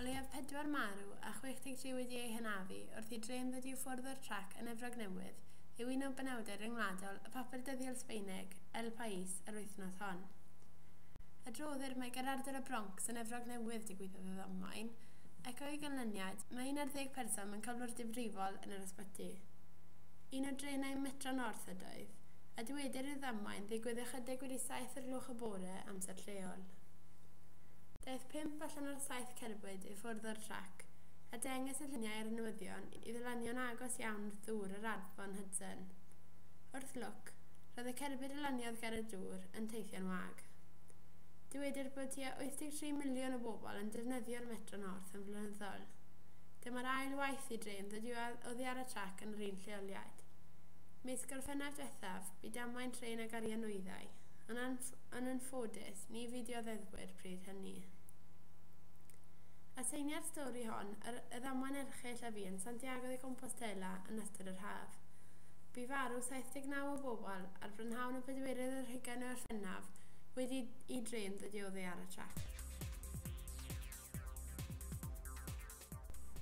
O leiaf pedwar marw a 63 wedi eu hanafu wrth i drên ddod i ffwrdd o'r trac yn Efrog Newydd, yw un o benawdau ryngwladol y papur dyddiol Sbaeneg, El País, yr wythnos hon. Adroddir mai ger ardal y Bronx yn Efrog Newydd digwyddodd y ddamwain, ac o'i ganlyniad, mae un ar ddeg person mewn cyflwr difrifol yn yr ysbyty. Un o drenau Metro North ydoedd, a dywedir i'r ddamwain ddigwydd ychydig wedi saith o'r gloch y bore, amser lleol. Daeth pump allan o'r saith cerbyd i ffwrdd o'r trac, a dengys y lluniau ar y newyddion i ddylanion agos iawn wrth ddŵr yr Afon Hudson. Wrth lwc, roedd y cerbyd a laniodd ger y dŵr yn teithio'n wag. Dywedir bod tua 83 miliwn o bobl yn defnyddio'r Metro North yn flynyddol. Dyma'r ail waith i drên ddod i'w oddi ar y trac yn yr un lleoliad. Mis Gorffennaf diwethaf, bu damwain trên ag arian nwyddau, ond yn ffodus, Ni fu dioddefwyr pryd hynny. Aseinia'r stori hon, yr y ddamwain erchyll a fu yn Santiago de Compostela yn ystod yr haf. Bu farw 79 o bobl ar brynhawn y pedwerydd ar hugain o Orffennaf wedi i drên ddod i oddi ar y trac.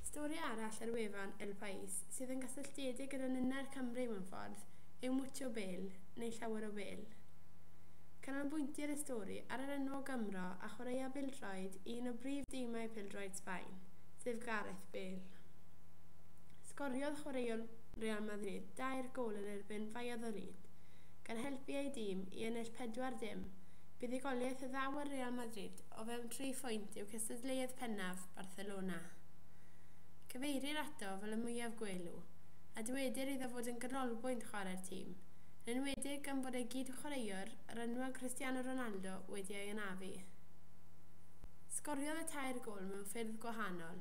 Stori arall ar wefan El País sydd yn gysylltiedig gyda ninnau'r Cymry mewn ffordd yw 'Mucho Bel' neu 'Llawer o Bel'. Canolbwyntir y stori ar yr enwog Gymro a chwaraea bêl-droed i un o brif dimau pêl-droed Sbaen, sef Gareth Bale. Sgoriodd chwaraewr Real Madrid dair gôl yn erbyn Valladolid, gan helpu ei dîm i ennill 4-0 buddugoliaeth a ddaw â Real Madrid o fewn tri phwynt i'w cystadleuaeth pennaf Barcelona. Cyfeirir ato fel y mwyaf gwelw, a dywedir iddo fod yn ganolbwynt chwarae'r tîm, yn enwedig gan bod ei gyd-chwaraewr, yr enwog Cristiano Ronaldo, wedi ei anafu. Sgoriodd y tair gôl mewn ffyrdd gwahanol,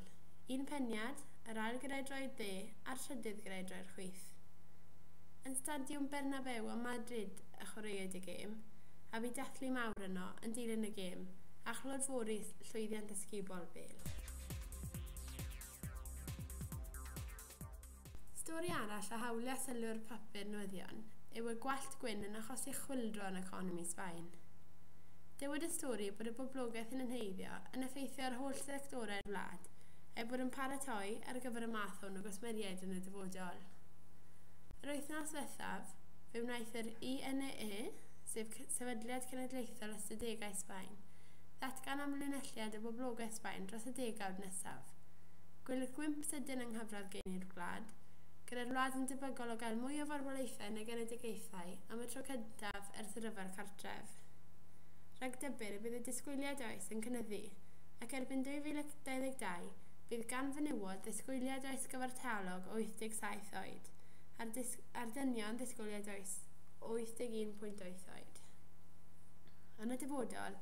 un peniad, yr ail gyda'i droed dde a'r trydydd gyda'i droed chwith. Yn Stadiwm Bernabeu ym Madrid y chwaraewyd y gêm, a bu dathlu mawr yno yn dilyn y gêm, a chlodfori llwyddiant ysgubol bel. Stori arall a hawlia sylw'r papur newyddion yw y gwallt gwyn yn achosi chwyldro yn economi Sbaen. Dywed y stori bod y boblogaeth yn enheiddio yn effeithio ar holl sectorau'r wlad, er bod yn paratoi ar gyfer y math hwn o gwsmeriaid yn y dyfodol. Yr wythnos ddiwethaf, fe wnaeth yr INEE, sef Sefydliad Cenedlaethol Ystadegau Sbaen, ddatgan amlinelliad y boblogaeth Sbaen dros y degawd nesaf. Gwelir gwymp sydyn yng nghyfradd geini'r wlad, gyda'r wlad yn debygol o gael mwy o farwolaethau yn y genedigaethau am y tro cyntaf ers y Rhyfel Cartref. Rhag dybur y bydd y disgwyliad oes yn cynyddu, ac erbyn 2022 bydd gan fenywod ddisgwyliad oes gyfartalog o 87 oed, a'r a'r dynion ddisgwyliad oes o 81.8 oed. Yn y dyfodol,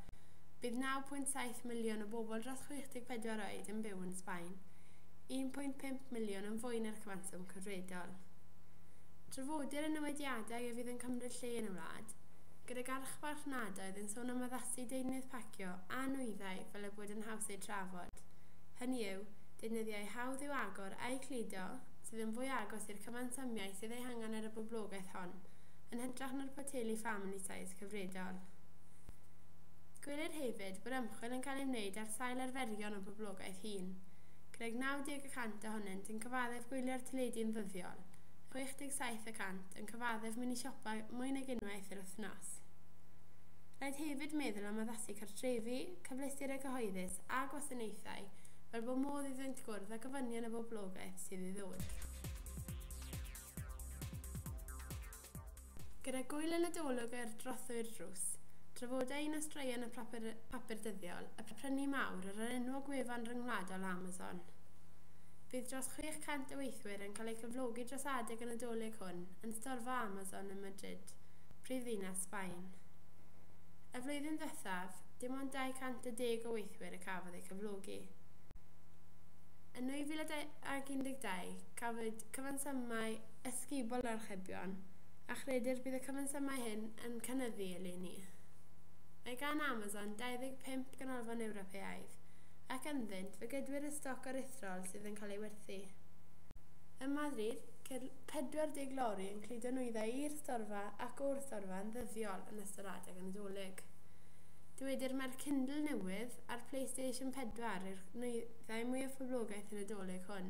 bydd 9.7 miliwn o bobl dros 64 oed yn byw yn Sbaen, 1.5 miliwn yn fwy na'r cyfanswm cyfredol. Trafodir y newidiadau a fydd yn cymryd lle yn y wlad, gydag archfarchnadoedd yn sôn am addasu deunydd parcio a nwyddau fel eu bod yn haws eu trafod, hynny yw, deunyddiau hawdd i'w agor a'u cludo, sydd yn fwy agos i'r cyfansomiau sydd eu hangen ar y boblogaeth hon, yn hytrach na'r poteli family-size. cyfredol. Gwelir hefyd bod ymchwil yn cael ei wneud ar sail arferion y boblogaeth hŷn, gydag 90 y cant ohonynt yn cyfaddef gwylio'r teledu yn ddyddiol, 67 y cant yn cyfaddef mynd i siopa mwy nag unwaith yr wythnos. Rhaid hefyd meddwl am addasu cartrefi, cyfleusterau cyhoeddus a gwasanaethau fel bod modd iddynt gwrdd â gofynion y boblogaeth sydd i ddod. Gyda Gŵyl y Nadolig ar drothwy'r drws, trafoda i nos draean y papur, papur dyddiol, y prynu mawr ar yr enwog wefan ryngwladol Amazon. Bydd dros 600 o weithwyr yn cael eu cyflogi dros adeg y Nadolig hwn yn storfa Amazon ym Madrid, prifddinas Sbaen. Y flwyddyn ddiwethaf, dim ond 210 o weithwyr y cafodd eu cyflogi. Yn 2012, cafwyd cyfansymau ysgubol yr archebion, a chredir bydd y cyfansymau hyn yn cynyddu eleni. Mae gan Amazon 25 ganolfan Ewropeaidd, ac ynddynt fe gydwir y stoc aruthrol sydd yn cael ei werthu. Ym Madrid, ceir 40 lori yn cludo nwyddau i'r storfa ac o'r storfa yn ddyddiol yn ystod adeg y Nadolig. Dywedir mai'r Kindle newydd a'r PlayStation 4 yw'r nwyddau mwyaf poblogaidd y Nadolig hwn,